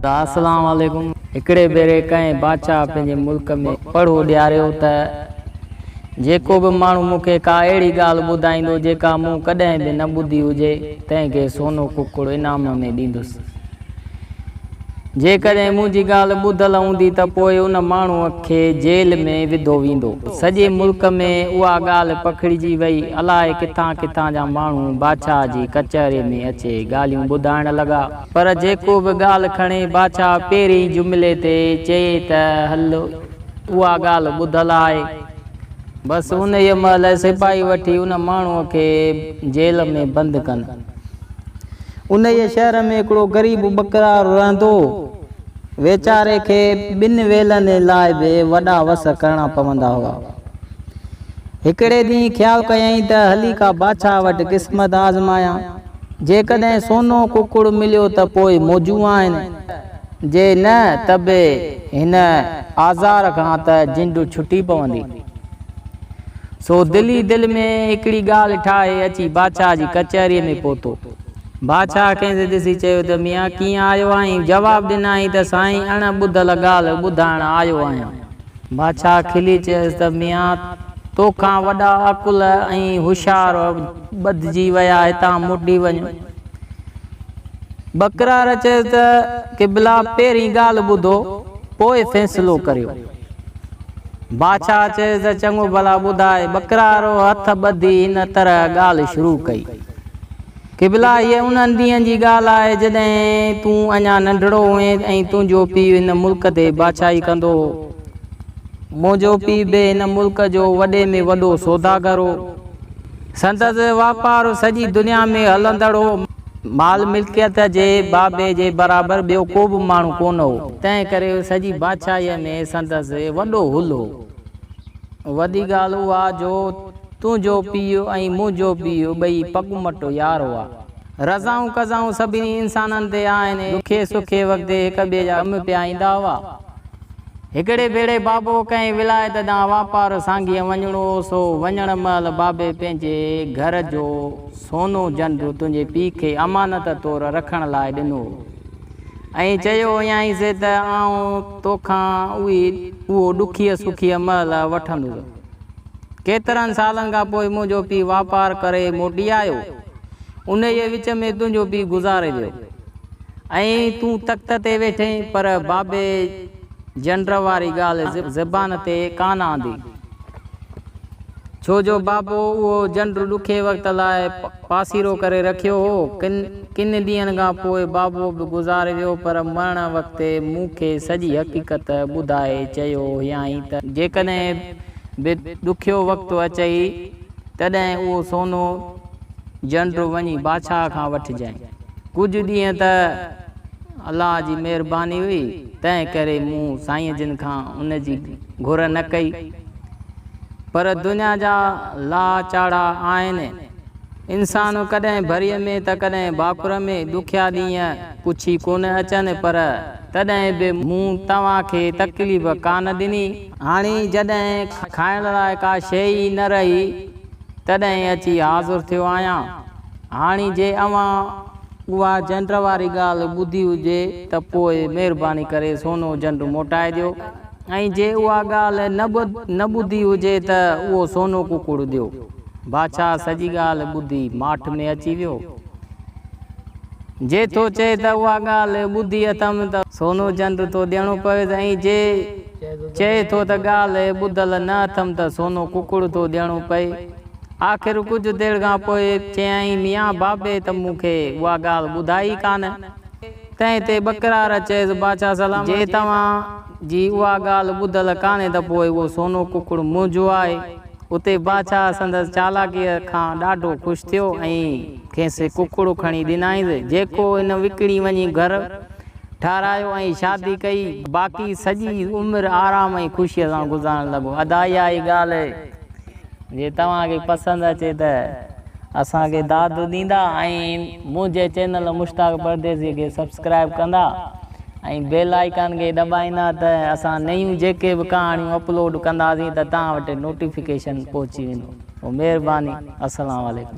السلام عليڪم هڪڙي ڀيري ڪنهن بادشاهه پنهنجي ملڪ ۾ پڙهو ڏياريو ته جيڪو به ماڻهو مون کي ڪا اهڙي ڳالهه ٻڌائيندو جيڪا مون ڪڏهن به نه ٻڌي هجي تنهن کي سونو ڪڪڙ انعام ۾ ڏيندس جيڪڏهن منهنجي ڳالهه ٻڌل هوندي ته پوء ان ماڻهوء کي جيل ۾ وڌو ويندو. سڄي ملڪ ۾ اها ڳالهه پکڙجي وئي. الائي ڪٿان ڪٿان جا ماڻهو بادشاهه جي ڪچهري ۾ اچي ڳالهيون ٻڌائڻ لڳا. پر جيڪو به ڳالهه کڻي بادشاهه پهرئين جملي تي چئي ته هل اها ڳالهه ٻڌل آهي. بس انهيء مهل سپاهي وٺي ان ماڻهوء کي جيل ۾ بند ڪن. انهيء شهر ۾ هڪڙو غريب ٻڪرارو رهندو هو. ويچاري کي ٻن ويلن لاء به وڏا وس ڪرڻا پوندا هئا. هڪڙي ڏينهن خيال ڪيائين ته هلي ڪا بادشاهه وٽ قسمت آزمايان. جيڪڏهن سونو ڪڪڙ مليو ته پوء موجون آهن. جي نه ته به هن آزار کان ته جنڊ ڇٽي پوندي. سو دل ئي دل ۾ هڪڙي ڳالهه ٺاهي اچي بادشاهه جي ڪچهريء ۾ پهتو. بادشاهه کين ٿي ڏسي چيو ته ميان ڪيئن آيو آهين؟ جواب ڏنائين ته سائين اڻ ٻڌل ڳالهه ٻڌائڻ آيو آهيان. بادشاهه کلي چيس ته ميان توکان وڏا عقل ۽ هوشيار ٻڌجي ويا هتان موٽي وڃ. بڪرار چيس ته قبلا پهرين ڳالهه ٻڌو پوء فيصلو ڪريو. بادشاهه چيس ته چڱو ڀلا ٻڌاء. بڪرار هٿ ٻڌي هن طرح ڳالهه شروع ڪئي. قبلا، هيء انهن ڏينهن جي ڳالهه آهي، جڏهن تون اڃا ننڍڙو هئين ۽ تنهنجو پيء هن ملڪ تي بادشاهي ڪندو هو. منهنجو پيء به هن ملڪ جو وڏي ۾ وڏو سوداگر هو. سندس واپار سڄي دنيا ۾ هلندڙ هو. مال ملڪيت جي بابي جي برابر ٻيو ڪو به ماڻهو ڪونه هو. تنهن ڪري سڄي بادشاهيء ۾ سندس وڏو هل هو. وڏي ڳالهه اها جو. تنهنجو پيء ۽ منهنجو پيء ٻئي پڳمٽ يار هئا. رضائون قضائون سڀني انسانن تي آهن. ڏکي سکي وقت هڪ ٻئي جا ڪم پيا ايندا هئا. هڪڙي ڀيري بابو ڪنهن ولايت ڏانهن واپار سانگيء وڃڻو هو، سو وڃڻ مهل بابي پنهنجي گهر جو سونو جنڊو تنهنجي پيء کي امانت طور رکڻ لاء ڏنو هو ۽ چيو هيائينس ته آئون توکان اهو ڏکيء سکيء مهل وٺندس. ڪيترن سالن کان پوء منهنجو پيء واپار ڪري موٽي آيو. انهيء وچ ۾ تنهنجو پيء گذاري ويو ۽ تون تخت تي ويٺين، پر بابي جنڊر واري ڳالهه زبان تي ڪانه آندي، ڇو جو بابو اهو جنڊر ڏکي وقت لاء پاسيرو ڪري رکيو هو. ڪن ڪن ڏينهن کان پوء بابو به گذاري ويو پر مرڻ وقت مون کي سڄي حقيقت ٻڌائي چيو هيائين ته، جيڪڏهن به ڏکيو وقت اچئي تڏهن اهو سونو جنڊو وڃي بادشاهه کان وٺجانء. ڪجهه ڏينهن ته الله جي مهرباني هئي، تنهنڪري مون سائين جن کان ان جي گهر نه ڪئي. پر دنيا جا لاء چاڙها آهن. انسان ڪڏهن ڀريء ۾ ته ڪڏهن ڀاڪر ۾ ڏکيا ڏينهن پڇي ڪونه اچن پر تڏهن به مون توهان کي تڪليف ڪانه ڏني. هاڻي جڏهن کائڻ لاء ڪا شيء ئي نه رهي تڏهن اچي حاضر ٿيو آهيان. هاڻي جي اوهان اها جنڊ واري ڳالهه ٻڌي هجي ته پوء مهرباني ڪري سونو جنڊ موٽائي ڏيو. ۽ جي اها ڳالهه نه نه ٻڌي هجي ته اهو سونو ڪڪڙ ڏيو. بادشاهه سڄي ڳالهه ٻڌي ماٺ ۾ اچي ويو. جي ٿو چئي ته اها ڳالهه ٻڌي اٿم ته سونو جند ٿو ڏيڻو پويس ۽ جي چئي ٿو ته ڳالهه ٻڌل نه اٿم ته سونو ڪڪڙ ٿو ڏيڻو پئي. آخر ڪجهه دير کان پوء چيائين ميان بابي ته مون کي اها ڳالهه ٻڌائي ئي ڪانه. تنهن تي ٻڪرار چيس، باچا سلامت، جي توهان جي اها ڳالهه ٻڌل ڪانهي ته پوء اهو سونو ڪڪڙ منهنجو آهي. اتي باچا سندس چالاڪيء کان ڏاڍو خوش ٿيو ۽ کيس ڪڪڙ کڻي ڏنائينس، جيڪو هن وڪڻي وڃي گهر ٺاهرايو ۽ شادي ڪئي. باقي سڄي عمر آرام ۽ خوشيء سان گذارڻ لڳو. ادا اها ئي ڳالهه جي توهان کي پسند اچي ته اسان کي داد ڏيندا ۽ منهنجي چينل مشتاق پرديسي کي سبسڪرائيب ڪندا ۽ بيل آئيڪان کي دٻائيندا ته اسان نيون جيڪي به ڪهاڻيون اپلوڊ ڪنداسين ته توهان وٽ نوٽيفڪيشن پهچي ويندو. مهرباني. السلام عليڪم.